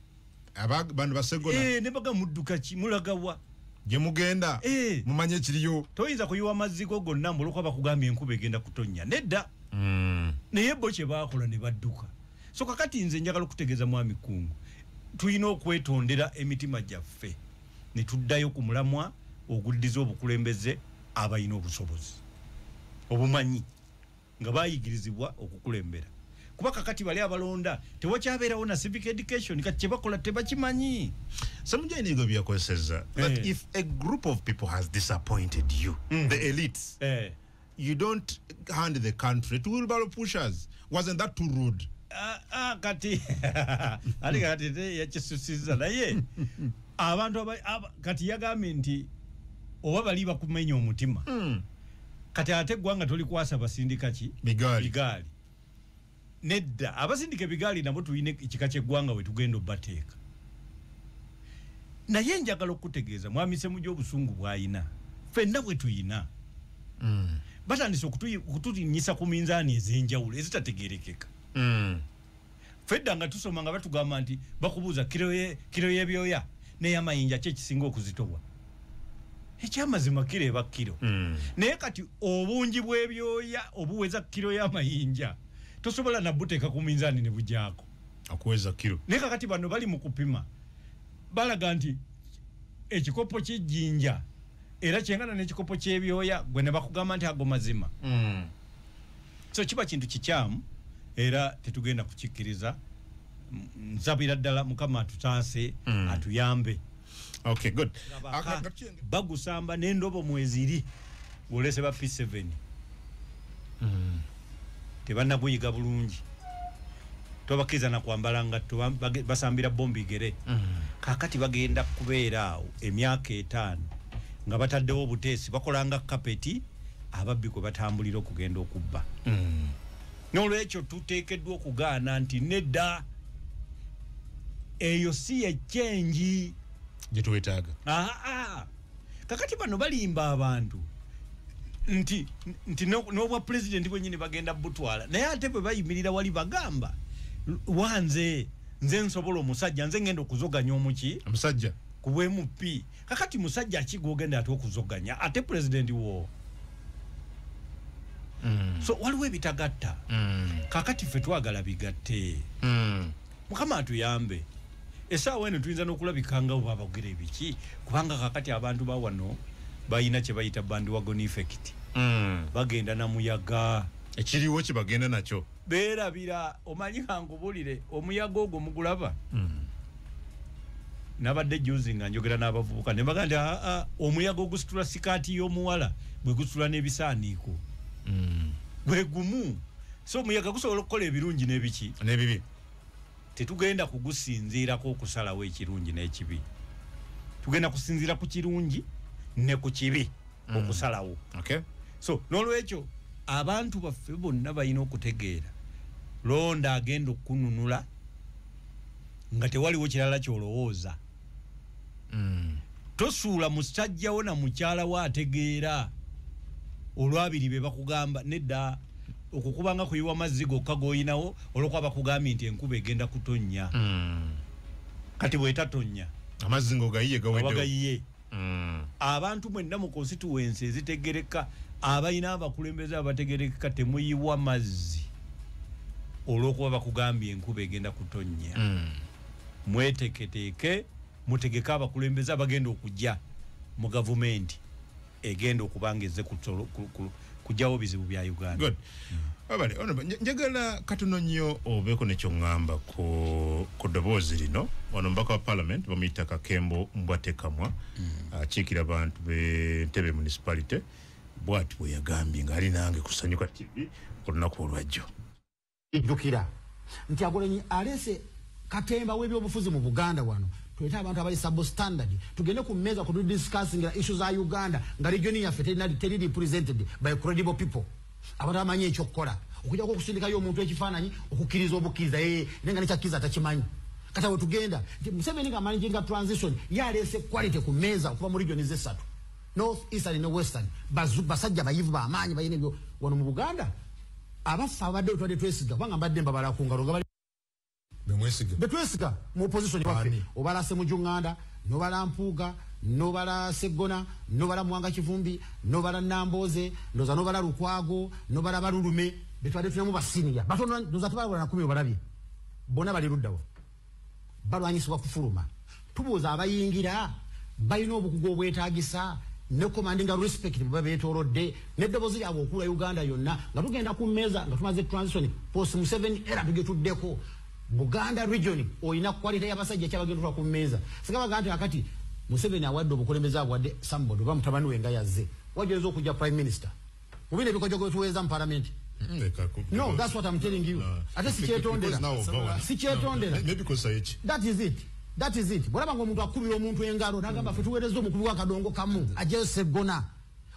bano basegola e, eh, nebaga mudduka ki mulagawa gyemugenda e. Eh. mumanye ekiriyo toyinza kuyiwa amazigo gonna muluka bakugambye enkuba egenda kutonnya nedda mm. naye bo kyebakola ne badduka so kakati nze njagala okutegeeza mwami kungu tulina okwetondera emitima gyaffe ne tuddayo ku mulamwa oguddiza obukulembeze abalina obusobozi obumanyi nga bayigirizibwa okukulembera kuba kakati bali abalonda tewakyabeerawo na civic education kati kyebakola tebakimanyi samujanigo byakozeseza that eh. if a group of people has disappointed you mm. the elites eh. you don't hand the country to wheelbarrow pushers wasn't that too rude ah, ah, kati ali kati te yakisusiza naye abantu aba, aba, kati yagambye nti oba bali bakumenya omutima mm. kati ate gwanga toli kwasa basindika ki bigali, bigali. nedda abasindika ebigaali nabo tulina ekika kyeggwanga wetugenda obateeka naye njagala okukutegeeza mwamisemu gyobusungu bwayina fenna bwetuyina mm. batandise okutulinyisa ku minzaani ezenjawulo ezitategerekeka mm. fedda nga tusoma nga batugamba nti bakubuuza kiro yebyoya neyamayinja kyekisinga okuzitobwa ekyamazima kiro eba kiro mm. naye kati obungi bwebyoya obuweza kiro yamayinja tosobola nabuteeka ku minzani nebujaako akuweza kiro naye kakati bano bali mu kupima balaga nti ekikopo kyejjinja era kyengana n'ekikopo ky'ebyoya gwe ne bakugamba nti ago mazima mm. so kiba kintu kikyamu era tetugenda kukikkiriza nsabira ddala mukama atutaase mm. atuyambe okay good bagusamba nendobo mweziri olese ba P7 mm. tebanna kuyiga bulungi tobakiriza na kwambala ngatto basambira bombi gere mm. kakati bagenda kubeera awo emyaka etaano nga bataddewo obuteesi bakolanga kapeti ababbi kwe batambulira okugenda okubba mm. N'olwekyo tuteekeddwa okugaana nti nedda, eyo si ye kyengi gye twetaaga. Kakati bano balimba abantu nti nti n'obwa pulezidenti bwennyini bagenda butwala, naye ate bwe bayimirira wali bagamba wanze nze nsobola omusajja nze ngenda okuzoganya omuki omusajja ku bwemupi kakati musajja ki gwogenda ate okuzoganya ate president wo mm. so waliwo ebitagatta mm. kakati ffe twagala bigatte mm. mukama atuyambe esaawa eno tuyinza n'okulabika nga oba abagera ebiki kubanga kakati abantu bawano balina kye bayita bandiwagon effect mm. bagenda na muyaga ekiriwo kye bagenda nakyo berabira omanyi kankubulire omuyaga ogwo mugulaba mm. nabadde juzi nga njogera n'abavubuka ne baga nti ah, ah, omuyaga ogusitula sikaati y'omuwala bwe gusitula n'ebisaaniiko mm. gwe gumu so omuyaga gusobola okukola ebirungi n'ebiki n'ebibi tetugenda kugusinziirako okusalawo ekirungi n'ekibi tugenda kusinziira ku kirungi ne ku kibi mm. okusalawo okay. so n'olwekyo abantu baffe bonna balina okutegeera londa agenda okukununula nga tewaliwo kirala kyolowooza mm. tosuula musajja wo na mukyala wo ategeera olwabiri be bakugamba nedda okukubanga kuyiwa mazzi gokka goyinawo olwokuba bakugambye nti enkuba egenda kutonnya mm. kati bwetatonnya amazzi ngaogayiye gawedeogayiye mm. abantu mwenna mu constituensi ezitegereka abalina abakulembeze abategerekeka temuyiwa mazzi olwokuba bakugambye enkuba egenda kutonnya mm. mweteketeeke mutegeke abakulembeze abagenda okujja mu gavumenti egenda okubanga eze kujjawo bizibu bya uganda abale ono njagala katono nnyo obeeko nekyoŋŋamba ku ku ddoboozi lino ono mubaka wa parliament bamuyita kakembo mbwatekamwa mm. akiikira abantu be ntebe municipality bwati bwe yagambye ng'ali nange kusanyuka tv olunaku olwajjo Jjukira nti Agolenyi aleese katemba w'ebyobufuzi mu Buganda wano tulete abantu abali substandard tugende ku mmeeza kwe tudiscussingira issue za Uganda nga region yaffe teri represented by credible people abantu abamanyi ekyokukola okujjako okusindikayo omuntu ekifaananyi okukkiriza obukkiriza ee eh, naye nga nekyakkiriza atakimanyi kata wetugenda nti museveni nga managing transition yaleese quality ku mmeeza okuva mu region zessatu North Eastern ne Western bazu basajja bayivu ba maanyi bayine byo wano mu Buganda abafa abadde otwade twesiga banga mbadde mbabala ku ngalo ngabali bemwesiga betwesiga mu opposition wafe obala se mujunganda no bala mpuga no bala segona no bala mwanga kivumbi no bala namboze no za no bala rukwago no bala barulume betwade tunamu basiniya batono no za tubala na kumi obalabi bona bali rudawo balwanyisibwa kufuluma tubuuza abayingira balina obukugu obwetagisa ne commanding respect bwe betolodde ne dobozi lyabwe okula Uganda yonna nga tugenda ku meza nga tumaze transition post mu 7 era tugetuddeko Buganda region oyina quality ya basajja kyabagendera ku meza sigaba gante akati Museveni awadde obukulembeze abwadde somebody bamutabani we nga yazze wajezo okuja prime minister Mu bino ebikojogo byetuweereza mu palamenti No, that's what I'm telling you. Ate sikyetondera. Sikyetondera. That is it. That is it. Bwolaba ng'omuntu akubira omuntu engalo n'agamba ffe tuweereza omukubi w'akadongo kamu ajeyo seggona.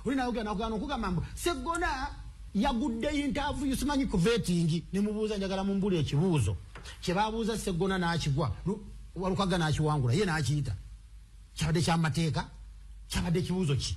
Oli naye ogenda okugana okugamba mbu seggona yagudde yintaavuyu simanyi ku vetingi ne mubuuza njagala mumbula ekibuuzo kye babuuza seggona n'akigwa walukagga n'akiwangula ye n'akiyita kyabadde kyamateeka kyabadde ekibuuzo ki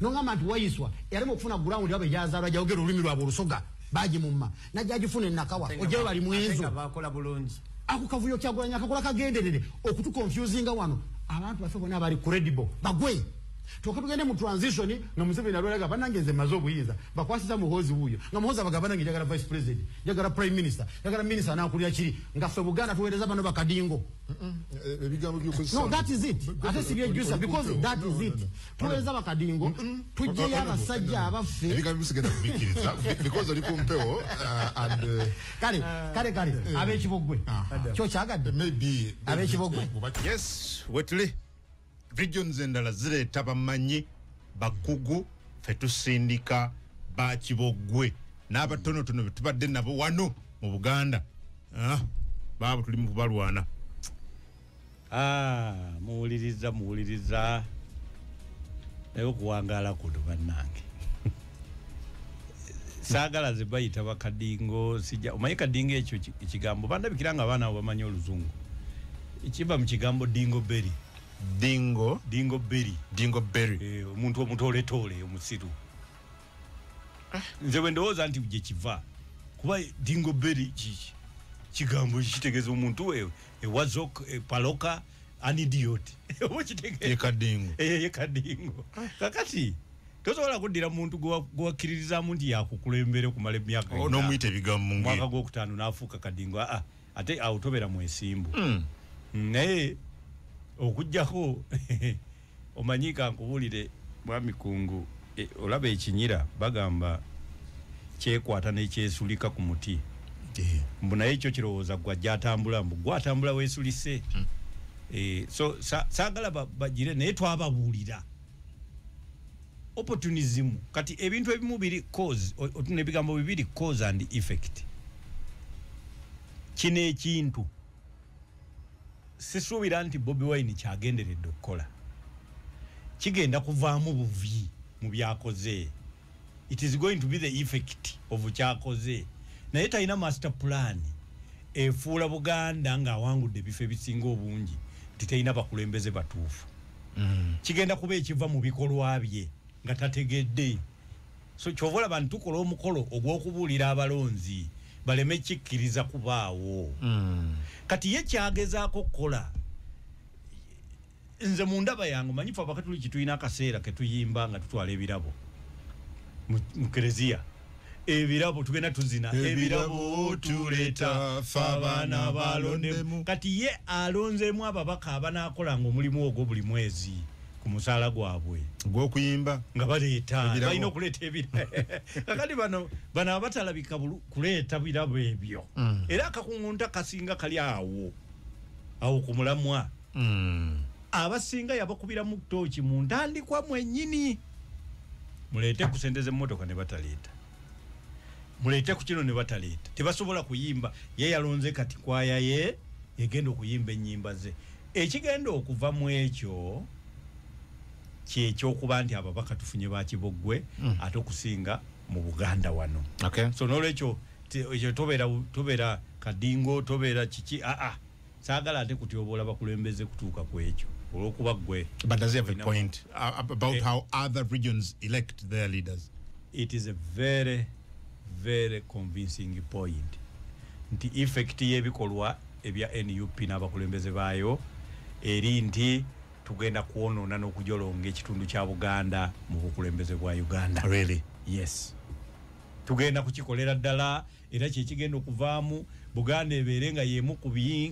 nongamba nti wayiswa yalema okufuna ground yabwe gyazalwa gyayogera olulimi lwabwe olusoga bagimumma najjagifuna enakawa ojayo bali mwenzo ako kavuyo kyagulanya kakola kagenderere okutukonfusinga wano abantu bafe bona bali credible bagwe toka tugende mu transition nga museveni nalweraga banange nze maze obuyinza bakwasiza muhozi wuyo nga muhozi abaga banange njagala vice president njagala prime minister njagala minister anakulira kiri nga ffe buganda tuweereza bano bakadingo eh, eh, no that is it ate sibyejusa because that is it Tuweza bakadingo mm -mm. tujje ya basajja abaffe ebigambo bisigenda kubikiriza because oli ku mpewo uh, and uh, kale uh, kale kale uh, abe kibogwe kyo kyagadde maybe abe kibogwe yes wetuli regions endala zireeta bamanyi bakugu fe tusindika ba kibogwe n'abatonotono betubadde nabo wano mu buganda ah, baabo tuli mu kubalwana Ah, muwuliriza muwuliriza naye okuwangaala kuno bannange saagala ze bayita bakadingo sija omanyi kadingo ekyo ekigambo bandabikira nga abaana abo bamanyi oluzungu ekiva mu kigambo dingo berry dingo dingo berry dingo berry eh, omuntu omutoletoole omusiru nze bwe ndowooza nti gye kiva kuba dingo beri kiki kigambo kitegeeza omuntu e, ewazok e epaloka anidiot yekadingo eh, yekadingo kakati tosobola kuddira muntu gwewakkiririzamu nti yakukulembera okumala emyaka oh, nomuyita ebigambo mwaka gwokutaano nafuuka kadingo aa ah, ate awo tobeera mwesimbu hmm. naye okujjako omanyi kankubulire mwami kungu e, olaba ekinyira bagamba kyekwata nekyesulika ku muti eh. mbu naye ekyo kirowooza gwa gyatambula mbu gwatambula wesulise hmm. e, so sagala sa, bagire naye twababuulira opportunism kati ebintu ebimu biri cause otuna ebigambo bibiri cause and effect kino ekintu sisuubira nti bobi wine kyagenderedde okukola kigenda kuvaamu buvi mu byakoze it is going to be the effect of kyakoze naye talina master plan efuula buganda ng'awangudde ebifo ebisinga obungi nti talina bakulembeze batuufu mm. kigenda kuba ekiva mu bikolwa bye nga tategedde so kyova olaba nti tukola omukolo ogw'okubuulira abalonzi baleme kikkiriza kubaawo mm. kati ye kyagezaako okukola nze mu ndaba yange manyi fe abakatuliki tulina akaseera ketuyimba nga tutwala ebirabo mu kereziya ebirabo tugenda tuzina ebirabo tuleta fabana balondemu kati ye alonzemu ababaka abanakolanga omulimu ogwo buli mwezi ku musaala gwabwe gwokuyimba nga baleeta balina okuleeta ebira kakati bano bano abatalabika kuleeta birabo ebyo mm. era akakungunta kasinga kali awo awo ku mulamwa mm. abasinga yabakubiramu tooki mu ntandikwa mwenyini muleete ku sente z'emmotoka ne bataleeta muleete ku kino ne bataleeta tebasobola kuyimba ye yalonze kati kwaya ye egenda okuyimba ennyimba ze ekigenda okuva mu ekyo kyekyokuba nti ababaka tufunye bakiboggwe mm. ate okusinga mu buganda wano okay. so nolwekyo tobeera kadingo tobeera kiki aa ah, ah. sagala ate kutyoboola bakulembeze kutuuka ku ekyo olwokuba gwe but does have a point uh, about eh. how other regions elect their leaders it is a very very convincing point nti effect yebikolwa ebya nup n'abakulembeze baayo eri nti tugenda kwonoona n'okujolonga ekitundu kya buganda mu bukulembeze bwa uganda really? yes tugenda kukikolera ddala era kyekigenda okuvaamu buganda ebeere nga yemu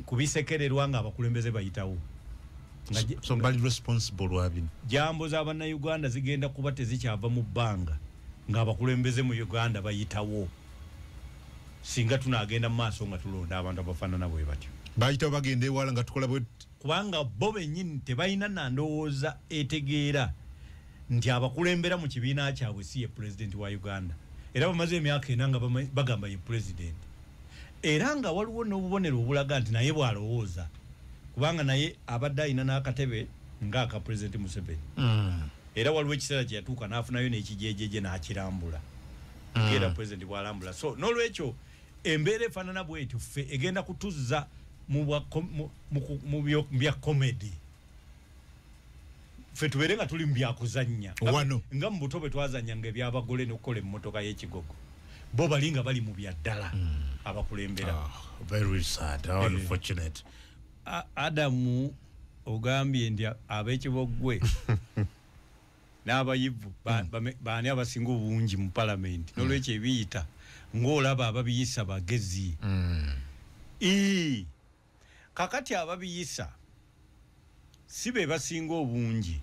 ku bisekererwa nga abakulembeze bayitawo jambo za bannayuganda zigenda kuba tezikyava mu bbanga nga abakulembeze mu uganda bayitawo singa tunagenda mu maaso nga tulonda abantu abafaanana bwe batyo bayitawo bagenda ewala nga tukola bwe kubanga bo bennyini tebalina nandowooza etegeera nti abakulembera mu kibiina kyabwe si ye pulezidenti wa uganda era bamaze emyaka ena nga bagamba ye pulezidenti era nga waliwo n'obubonero obulaga nti naye bw'alowooza kubanga naye abadde alina n'akatebe ng'aka pulezidenti museveni mm. era waliwo ekiseera kye yatuuka n'afunayo n'ekijejeje n'akirambula mm. era pulezidenti bw'alambula so n'olwekyo embeera efaanana bwetyo ffe egenda kutuzza mu bya komedi fe tubeere nga tuli mu byakuzannya wano nga mu buto bwe twazannya nga ebyabagole n'okukola emmotoka y'ekigogo bo bali nga bali mu bya ddala hmm. abakulembera ah, eh. adamu ogambye nti ab'ekiboggwe n'abayivu hmm. baani abasinga obungi mu palamenti hmm. n'olwekyo ebiyita ng'olaba ababiyisa bagezi ii kakati ababiyisa si be basinga obungi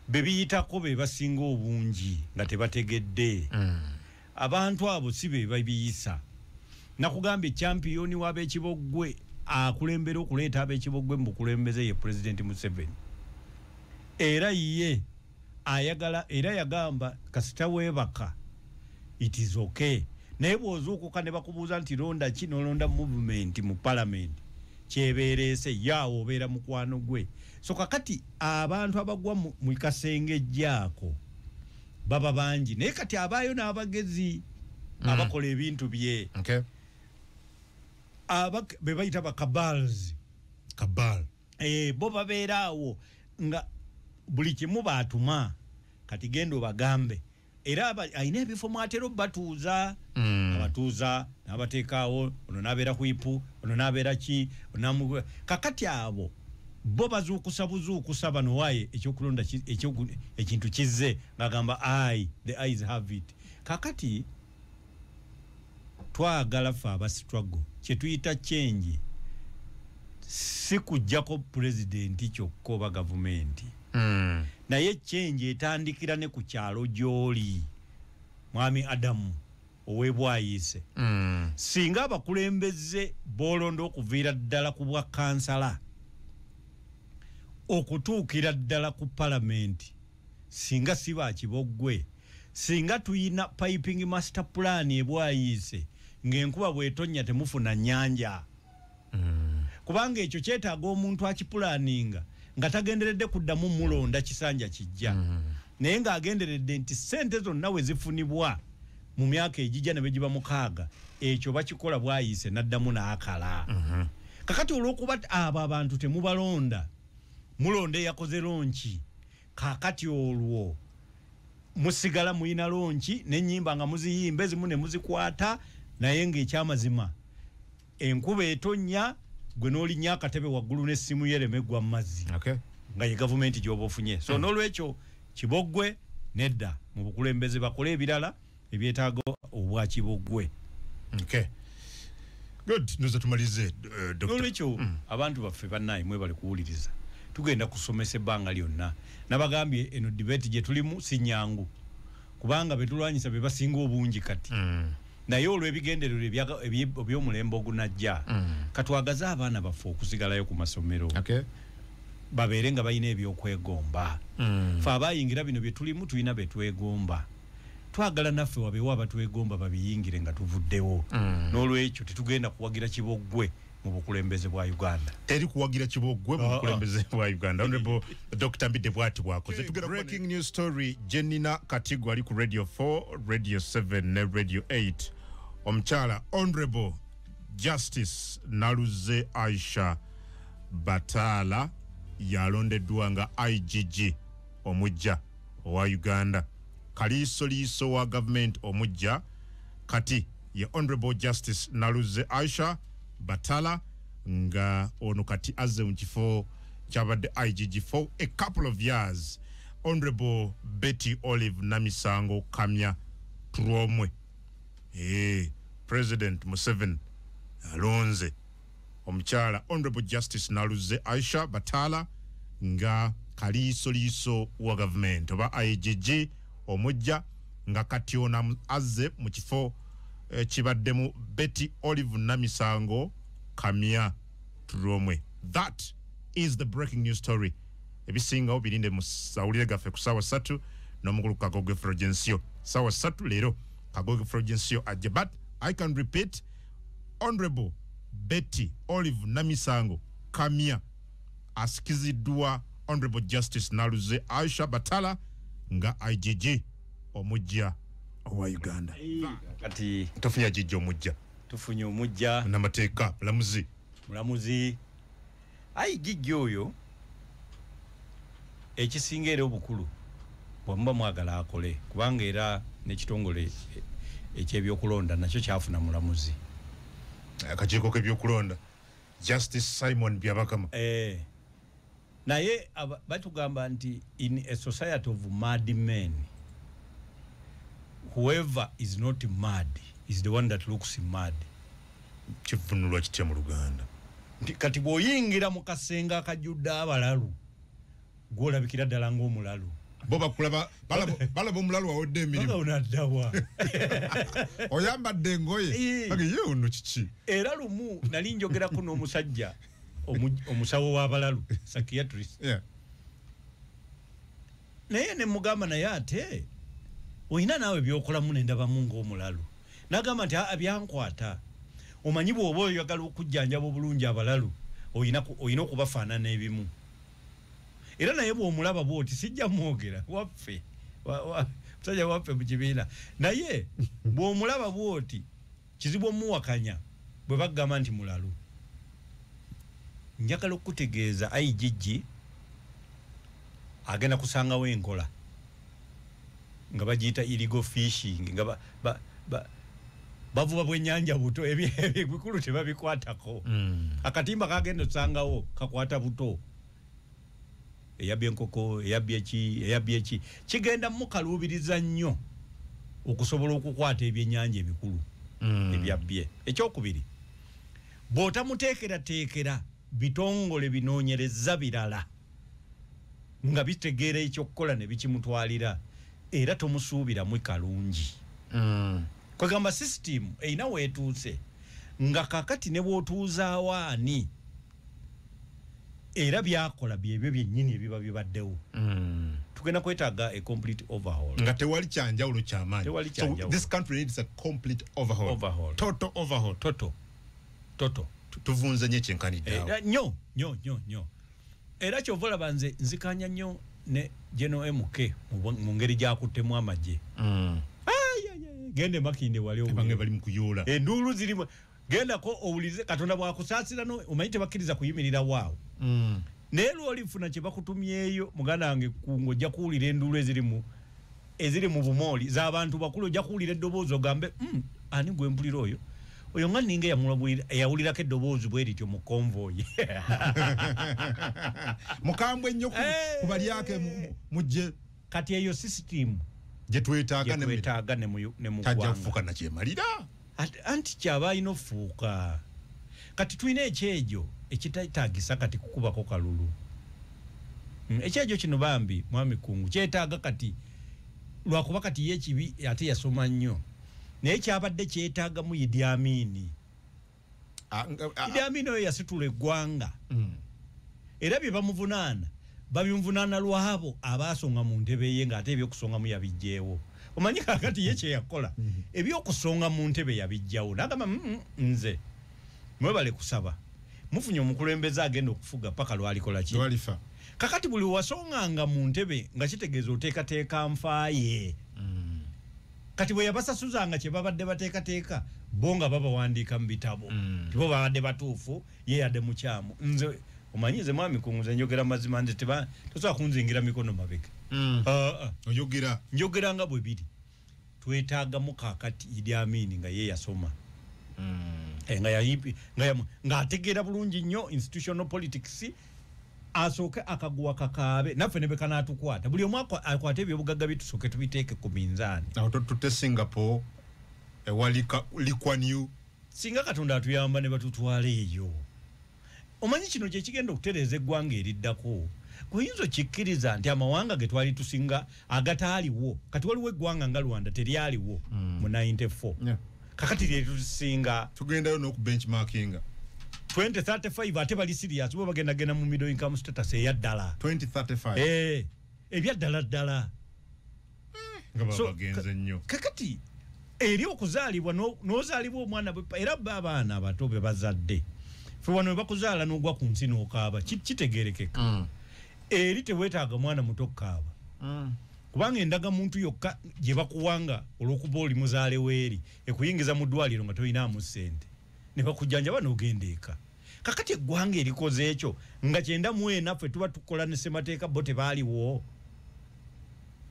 bebiyitako be basinga obungi nga tebategedde mm. abantu abo si be babiyisa nakugamba ekyampiyoni w'abekiboggwe akulembera okuleeta abekiboggwe mu bukulembeze ye pulezidenti museveni era ye ayagala era yagamba kasita webaka it is okay naye bwozuukuka ne bakubuuza nti londa ki nolonda movement mu parliament kyebeereese yaawo obeera mukwano gwe so kakati abantu abagwa mu kasenge jaako baba bangi naye kati abaayo n'abagezi mm. abakola ebintu bye okay. bebayita bakabals kabal eh, bo babeera awo nga buli kimu baatuma kati genda obagambe era alina ebifo mwatera obatuuza mm. abatuuza nabateekaawo ono nabeera kwipu ono nabeera ki kakati abo bo bazuukusa buzuukusa bano waye ekyokulonda ekintu kizze ngagamba i the eyes have it kakati twagala fe aba struggle kyetuyita change si kujjako pulezidenti kyokka oba gavumenti mm. naye change etandikira ne ku kyalo gy'oli mwami adamu owebwayiise mm. singa abakulembeze bolonda okuviira ddala ku bwa kansala okutuukira ddala ku palamenti singa si ba kiboggwe, singa tulina piping master plan e Bwayiise ng'enkuba bw'etonnya temufuna nnyanja. Kubanga ekyo kyetaaga omuntu akipulaaninga nga tagenderedde kuddamu mulonda kisanja kijja. Naye ng'agenderedde nti ssente zonna we zifunibwa mu myaka egijja ne bwe giba mukaaga, ekyo bakikola Bwayiise n'addamu n'akala. Kakati olw'okuba abo abantu temubalonda, mulonda eyakoze lonki kakati olwo musigala muyina lonki nenyimba nga muziyimba ezimu nemuzikwata naye nga ekyamazima enkuba etonya gwe nolinya akatebe waggulu nesimu yereme gwa mumazzi okay. nga ye gavumenti gyoba ofunye so mm. nolwekyo kibogwe nedda mubukulembeze bakole ebirala ebyetaaga obwa kiboggwe okay. good ndoza tumalize uh, doctor nolwekyo mm. abantu baffe banaye mwebale kuwuliriza tugenda kusomesa ebbanga lyonna nabagambye eno debate gye tulimu si nyangu kubanga betulwanyisa be basinga obungi kati mm. naye olwebigenderero ebyomulembe ogunajja mm. katwagaze abaana baffe okusigalayo ku masomero okay. babeere nga balina ebyokwegomba mm. fe abayingira bino byetulimu tulina betwegomba twagala naffe wabeewo abatwegomba babiyingire nga tuvuddewo mm. n'olwekyo tetugenda kuwagira kiboggwe mu bukulembeze bwa uganda teri kuwagira kiboggwe mu ah, ah. bukulembeze bwa uganda honorable dr mbidde bwati bwakoze breaking news story jenina katigo ali ku radio 4 radio 7 ne radio 8 omukyala honorable justice naluze aisha bataala yalondeddwa nga igg omujja owa Uganda, kaliisoliiso wa gavumenti omuggya kati ye Honorable Justice Naluzze Aisha Batala nga ono kati azze mu kifo kyabadde IGG for a couple of years Honorable Betty Olive Namisango Kamya Turwomwe. Hey, eh, President Museveni alonze omukyala honorable justice naluze aisha bataala nga kaliisoliiso wa gavumenti oba igg omujja nga kati ono azze mu kifo eh, kibaddemu betty olive namisango kamya tulomwe that is the breaking new story ebisingawo birinde mu sawulire gaffe ku saawa satu n'omukulu kagoge frogensio saawa satu leero kagoge frogensio ajja but i can repeat Honorable Betty Olive Namisango Kamya asikiziddwa Honorable Justice Naluze Aisha Batala nga IGG omujja owa Uganda. Kati tufunye IGG omujja. Tufunye omujja. Namateeka mulamuzi. Mulamuzi. Ayi gijja oyo ekisinga era obukulu bwemuba mwagala akole kubanga era nekitongole e, ekyebyokulonda nakyo kyafuna mulamuzi akakiiko kebyokulonda justice simon byabakama eh, naye batugamba nti in a society of mad men whoever is not mad is the one that looks mad kivunulwa kitya mu luganda nti kati bwoyingira mu kasenga akajjudde abalalu gwolabikira ddala ngaomulalu bo bakulaba balaba omulalu wawodde emirimnaddawa oyambadde engoye ye ono kiki era lumu nali njogerako n'omusajja omusawo w'abalalu sakiatrist naye nemugamba naye ate olina naawe byokolamu nendabamu ngaomulalu nagamba nti aa byankwata omanyi bwoba oyagala okujjanjaba obulungi abalalu olina okubafaanana ebimu era naye bwomulaba bwoti sijja mwogera waffe musajja waffe mu kibiina naye bwomulaba bwoti Kizibu omuwakanya bwe bagamba nti mulalu. Njagala okukutegeeza IGG agenda kusangawo enkola nga bagiyita illegal fishing nga ba, ba, ba, bavuba bwenyanja buto ebikulu tebabikwatako mm. akatimba kagenda osangawo kakwata buto eyabbye enkoko eyabbye ki eyabbye ki kigenda mukaluubiriza nnyo okusobola okukwata ebyennyanja ebikulu mm. ebyabbye ekyokubiri bw'otamuteekerateekera bitongole binoonyereza birala nga bitegeera ekyokukola ne bikimutwalira era tomusuubiramu kalungi mm. kwegamba sisitimu erina weetuuse nga kakati ne bw'otuuzaawo ani era byakola byebyo byennyini ebiba bibaddewo mm. tugenda kwetaaga a complete overhaul nga tewali kyanjawulo kyamaanyi tewali kyanjawulo this country needs a complete overhaul overhaul total overhaul total total tuvunze nyo ekyenkanidde eh, eh, nyo nyo nyo nyo era kyova olaba nze nzikanya nyo ne general mk mu ngeri gyakuttemu amagye mm. gende makinde wali obuli bange bali mukuyoola enduulu zirimu gendako owulirize katonda bwakusaasira no omanyi tebakkiriza kuyimirira waawo mm. naye lwolifuna kyebakutumyeyo muganda wange kunga ojja kuwulira enduulu ezirimu eziri mu bumooli zabantu bakulu ojja kuwulira eddoboozi ogambe mm, ani gwempulira oyo oyo nga ninga yawulirako eddoboozi bwe lityo mu konvoyi mukambwe ennyo kubalyake eh. mujje kati eyo sisitimu gyetwetaaga ne mugwanga tajja kufuka nakyemalira anti kyaba alina ofuuka kati tulina ekyejo ekitatagisa kati kukubako kalulu mm, ekyejo kino bambi mwami kungu kyetaaga kati lwakuba kati ye ekibi ate yasoma nnyo naye kyabadde kyetaagamu idi amini ah, ah, ah. idi amini oyo yasitula eggwanga mm. era bye bamuvunaana babimvunaana lwabo abaasonga mu ntebe ye ng'ate ebyokusongamu yabijjeewo omanyi kakati ye kyeyakola mm-hmm. ebyokusonga mu ntebe yabijjawo nagamba mm, mm, nze mwebale kusaba mufunye omukulembeze agenda okufuga paka lwalikola ki kakati buli wasonganga mu ntebe nga kitegeeza oteekateeka nfaaye mm. kati bwe yabasasuzanga kye babadde bateekateeka bo nga babawandiika mu bitabo tibo babadde batuufu ye yade mukyamu nze omanyi nze mwami kunguza njogera mazima nze teba tosobola kunzingira mikono mabega mm. ah, ah. oyogera njogera nga bwe biri twetaaga mukakati idi amini nga ye yasoma mm. eh, nga yayipi nga yamu nga ategeera bulungi nnyo institutional politics asooke akaguwa kakaabe naffe ne bekanatukwata buli omu akwata ebyobugagga bye tusooke tubiteeke ku minzaani awo tutute singapore ewali likwanyu singa katonda atuyamba ne batutwala eyo omanyi kino kyekigenda okutereeza eggwanga eriddako kuyinza okikkiriza nti amawanga ge twali tusinga agataaliwo kati waliwo eggwanga nga rwanda teryaliwo mm. mu 94 kakati lyetusinga tugendayo nokubenchmarkinga 2035 ate bali serious bo bagenda genda mu middle income status eyaddala 2035 eh ebyaddala ddala nga babagenze nnyo kakati eri okuzaalibwa n'ozaalibwa omwana era bo abaana abato be bazadde fe wano webakuzaala n'ogwa ku nsi n'okaaba kitegerekeka mm. eri teweetaaga mwana muto okukaaba mm. kubanga endaga muntu yokka gye bakuwanga olw'okuba oli muzaale weeri ekuyingiza mu ddwaliro nga tolinamu ssente ne bakujjanjaba n'ogenda eka kakati eggwanga erikoze ekyo nga kyenda mu ena ffe tuba tukola ne ssemateeka bo tebaaliwo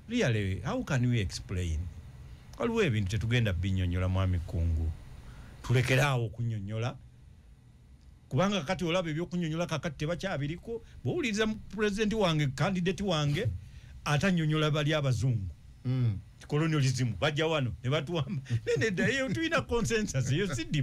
really how can we explain waliwo ebintu tetugenda binyonyola mwami kungu tulekere awo okunyonyola kubanga kakati olaba ebyokunyonyola kakati tebakyabiriko bwowuliriza pulezidenti wange kandidati wange atanyonyola bali abazungu mm. colonialism bajja wano nebatuwamba nenedayetulina consensus eyo sidi